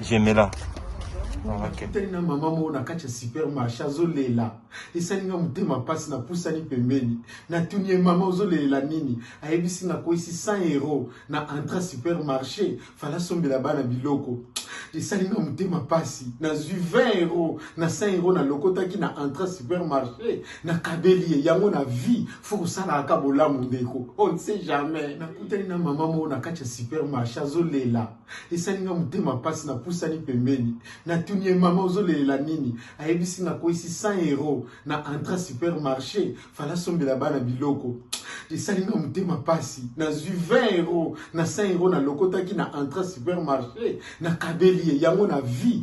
jemela nakutani na mama moko na kati ya supermarché azolela esali nga motema mpasi napusani pembeni natuni ye mama ozolelela nini ayebisi nakwesi 100 euro na entra supermarché fala sombela bana biloko esali nga motema mpasi nazwi 20 euro na 100 euro nalokotaki na entra supermarché nakabeli ye yango na vie fo kosalaka bolamu ndeko on ne sait jamais nakutani na mama moko na kati ya supermarché azolela esali nga motema mpasi napusani pembeni natuni ye mama ozolelela nini ayebisi nga akweyisi 100 euro na entra supermarché fala asombela bana biloko esali nga motema mpasi nazwi 20 euro na 100 euro nalokotaki na entra supermarché nakabeli ye yango na vie